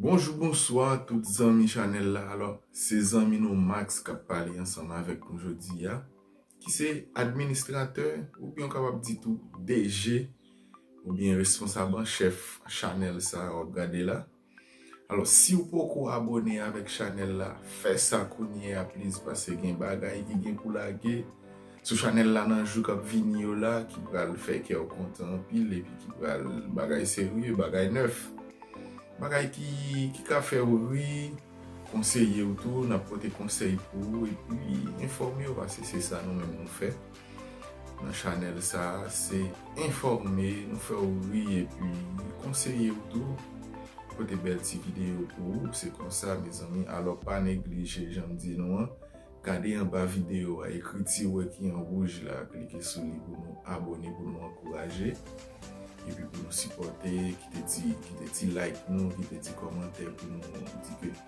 Bonjou bonswa tout zanmi chanèl la alò se zanmi nou Max kap pale ansanm avèk nou jodi a ki se administratè oubyen ou kapab di tou DG oubyen responsab an chèf chanèl sa wap gade la. Alò siw poko abone avèk chanèl la fè sa kounye a please pase gen bagay ki gen pou lage sou chanèl la nan jou kap vini yo la ki pral fè kèw kontan anpil epi ki pral bagay serye bagay nèf bagay ki ki ka fèw ri konseyew tou nap pote konsèy pou ou epi enfòmew pase se sa nou menm nou fè. nan chanèl sa se enfòme nou fè ou ri epi konseye ou tou pote bèl ti videyo pou ou se konsa mezanmi alò pa neglije janm di nou an gade anba videyo a ekri ti wè ki an wouj la klike sou li pou nou abòne pou nou ankouraje epi pou nou sipòte kite ti kite ti like nou kite ti kòmantè pou nou di ke.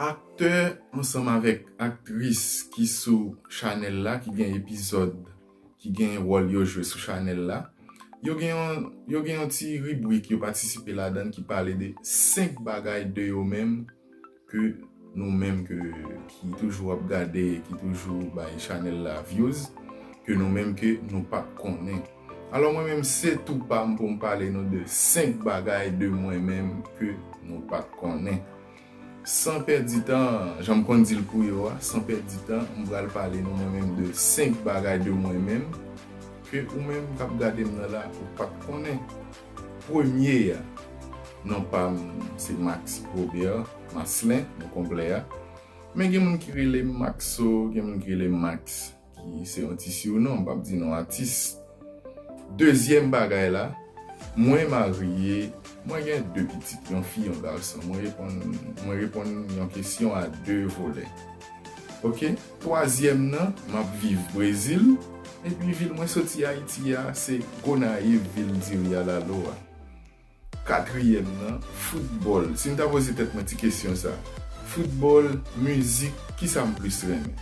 Aktè ansanm avèk aktris ki sou chanèl la ki gen epizòd ki gen wòl yo jwe sou chanèl la yo gen yon yo gen yon ti ribrik yo patisipe ladan ki pale de 5 bagay de yo menm ke nou menm ke ki toujou ap gade ki toujou bay chanèl la vyouz ke nou menm ke nou pat konnen. Alò mwen menm se tou pam pou m pale nou de 5 bagay de mwen menm ke nou pat konnen. San pèdi tan, jan m konn di l pou yo a, san pèdi tan m pral pale nou mwen menm de 5 bagay de mwen menm ke ou menm k ap gade m nan la ou pat konnen. Premye a, non pa m se Max Robert Marcelin, non konplè a. Men gen moun ki rele m Maxo, gen moun ki rele m Max. Ki se yon ti siwnon, m pap di non atis. Dezyèm bagay la, mwen marye, mwen gen 2 pitit, yon fi, yon gason. Mwen reponn, mwen reponn yon kesyon a 2 volè. Ok. Twazyèm nan, m ap viv Brezil, epi vil mwen soti Ayiti a, se Gonayiv, vil Diri Alalo a. Katriyèm nan, foutbòl. Si m ta poze tèt mwen ti kesyon sa, foutbòl, mizik, ki sa m plis renmen?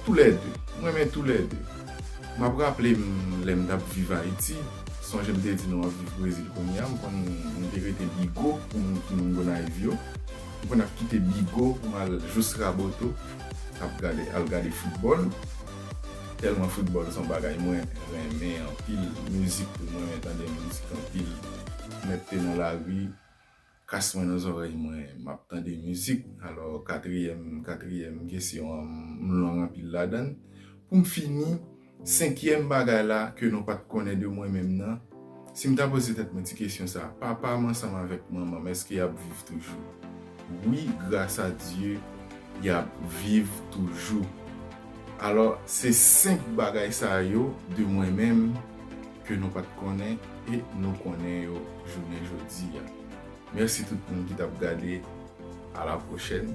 Toulède. M renmen toulède. M ap raple m lè m t ap viv Ayiti, sonje m te di nou ap viv Brezil kounye a, m konn m te rete Bigo pou moun ki moun Gonayiv yo. M konn ap kite Bigo pou m al jous Raboto ap gade al gade foutbòl. Telman football son bagay mwen renmen anpil music tou mwen renmen tande music anpil mèt pye nan lari kas mwen nan zòrèy mwen map tande music alò katriyèm katriyèm kesyon an m long anpil ladann poum fini senkyèm bagay la ke nou pat konnen de mwen menm nan Si m ta poze tèt mwen ti kesyon sa, papa m ansanm avèk manman m èske y ap viv toujou? Wi, grasa Dye, y ap viv toujou. Alò, se senk bagay sa yo de mwen menm ke nou pa t konnen e nou konnen yo jounen jodi a. Mèsi tout moun ki t ap gade. Alapwochèn!